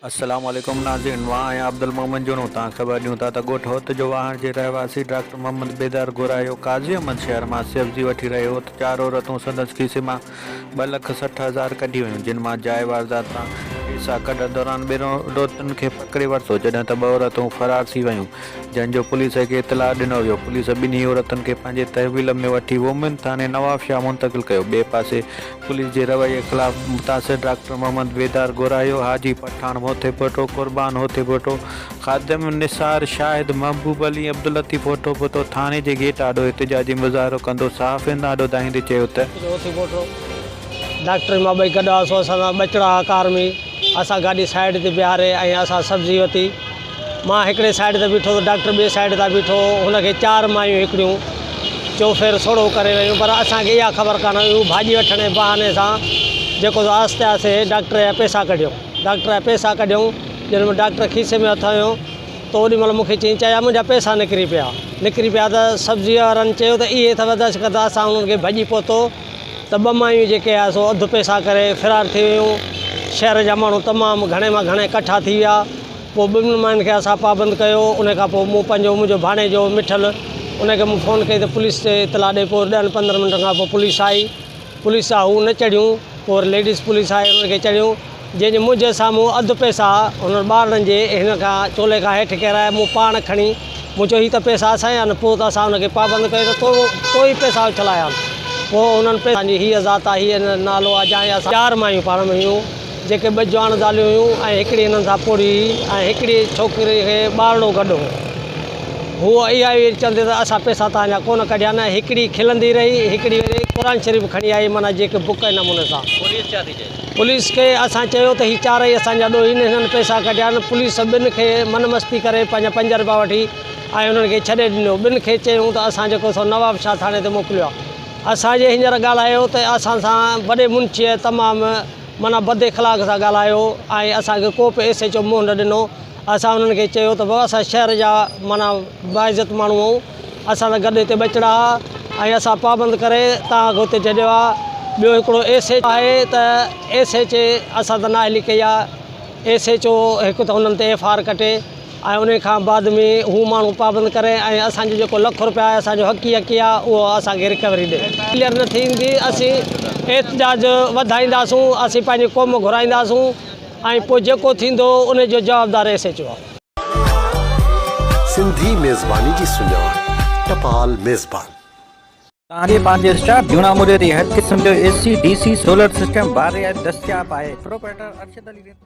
السلام عليڪم ناظرين مان آهيان عبدالمومن جوڻو توهان خبر ڏيون ٿا ته ڳوٺ هوت جو واهڻ جي رهواسي ڊاڪٽر محمد بيدار گهرايو قاضي احمد شهر مان سيوزي وٺي رهيو هو ته چار عورتون سندس کيسي مان ٻه لک سٺ هزار ڪڍي ويون جن مان جاء واردات سان پئسا ڪڍڻ دوران ٻن عورتن کي پڪڙي ورتو جڏهن ته ٻه عورتون فرار ٿي ويون جنهن جو پوليس کي اطلاع ڏنو ويو پوليس ٻنهي عورتن کي پنهنجي تحويل ۾ وٺي وومين ٿاڻي نوابشاهه منتقل ڪيو ٻئي پاسي پوليس جي رويي خلاف متاثر ڊاڪٽر محمد بيدار گورايو، حاجي پٺاڻ موتي ڀٽو، قربان هوتي ڀٽو، خادم نثار، شاهد محبوب علي، عبداللطيف هوتو ڀٽو ٿاڻي جي گيٽ آڏو احتجاجي مظاهرو ڪندو صحافين آڏو ڌائيندي چيو ته. هوتي ڀٽو، ڊاڪٽر مان ٻئي گڏ هئاسون، اسان سان ٻچڙا هئا ڪار ۾، اسان گاڏي سائيڊ تي بيهاري ۽ اسان سبزي وتي. مان هڪڙي سائيڊ تي بيٺو ته ڊاڪٽر ٻئي سائيڊ تان بيٺو هو. هن کي چار مايون هڪڙيون چوڦير سوڙهو ڪري ويون پر اسان کي اها خبر ڪانه هئي. هو ڀاڄي وٺڻ جي بهاني سان جيڪو سو آهستي آهستي ڊاڪٽر جا پئسا ڪڍيون. ڊاڪٽر جا پئسا ڪڍيون. جڏهن مون ڊاڪٽر کيسي ۾ هٿ هنيو ته اوڏي مهل مون کي چيائين چاچا منهنجا پئسا نڪري پيا. نڪري پيا ته سبزيء وارن چيو ته اهي اٿئو دش ڪتا اسان انهن کي ڀڄي پهتو ته ٻه مايون جيڪي هيا سو اڌ پئسا ڪري فرار ٿي ويون. شهر جا ماڻهو تمام گهڻي مان گهڻي ڪٺا ٿي ويا. پوء ٻن ٻن ماين کي اسان پابند ڪيو ان کان پوء مون پنهنجو منهنجو ڀاڻيجو مٺل ان کي مون فون ڪئي ته پوليس تي اطلاع ڏي پوء ڏهن پندرهن منٽن کان پوء پوليس آئي پوليس جا هو نه چڙهيون پوء وري ليڊيز پوليس آئي انهن کي چڙهيون جنهن جي منهنجي سامهون اڌ پئسا هنن ٻارڙن جي هن کان چولي کان هيٺ ڪيرايا مون پاڻ کڻي مون چيو هي ته پئسا اسان جا آهن پوء ته اسان ان کي پابند ڪيو ته تو تو ئي پئسا اڇلايا آهن پوء انهن پئسن جي هيء ذات آهي هيء نالو آهي جانهن جا اسان چار مايون پاڻ ۾ هيون جيڪي ٻه جوان زاليون هيون ۽ هڪڙي هنن سان پوڙهي هئي ۽ هڪڙي ڇوڪري کي ٻارڙو گڏ هو. هوء اها ئي ويري چوندي ته اسان پئسا ته اڃا ڪونه ڪڍيا نه هڪڙي کلندي رهي، هڪڙي ويري قرآن شريف کڻي آئي معنيٰ جيڪي بڪ ۽ نموني سان. پوليس ڇا ٿي چئي؟ پوليس کي اسان چيو ته هي چارئي اسان جا ڏوهي نه هنن پئسا ڪڍيا آهن، پوليس ٻن کي من مستي ڪري پنهنجا پنج رپيا وٺي ۽ انهن کي ڇڏي ڏنو، ٻن کي چيائون ته اسان جيڪو سو نواب شاهه ٿاڻي تي موڪليو آهي، اسان جي هينئر ڳالهايو ته اسان سان وڏي منشيء تمام. معنيٰ بد اخلاق سان ڳالهايو ۽ اسان کي ڪو به ايس ايڇ او منهن نه ڏنو اسان انهن کي چيو ته بابا اسان شهر جا معنيٰ باعزت ماڻهو آهيون اسان سان گڏ هتي ٻچڙا ها ۽ اسان پابند ڪري توهان کي هتي جهڏيو آهي ٻيو هڪڙو ايس ايڇ آهي ته ايس ايڇ اي اسان ته نااهلي ڪئي آهي ايس ايڇ او هڪ ته انهن تي ايف آر ڪٽي ۽ انهي کان بعد ۾ هو ماڻهو پابند ڪري ۽ اسان جو جيڪو لک روپيا آهي اسان جو حقي حقي آهي اهو اسان کي رڪوري ڏي ڪليئر نه ٿيندي اسين احتجاج وڌائينداسون اسين پنهنجي قوم گهرائينداسون ۽ پوء جيڪو ٿيندو انهي جو جوابدار ايس ايچ او سنڌي ميزباني جي سڃاڻ ٽپال ميزبان. توهان کي پنهنجي اسٽاف جون آموزي تي هر قسم جو A C, D C, solar system, بار رعايت دستياب آهي، پروپرائيٽر ارشد علي ريتو.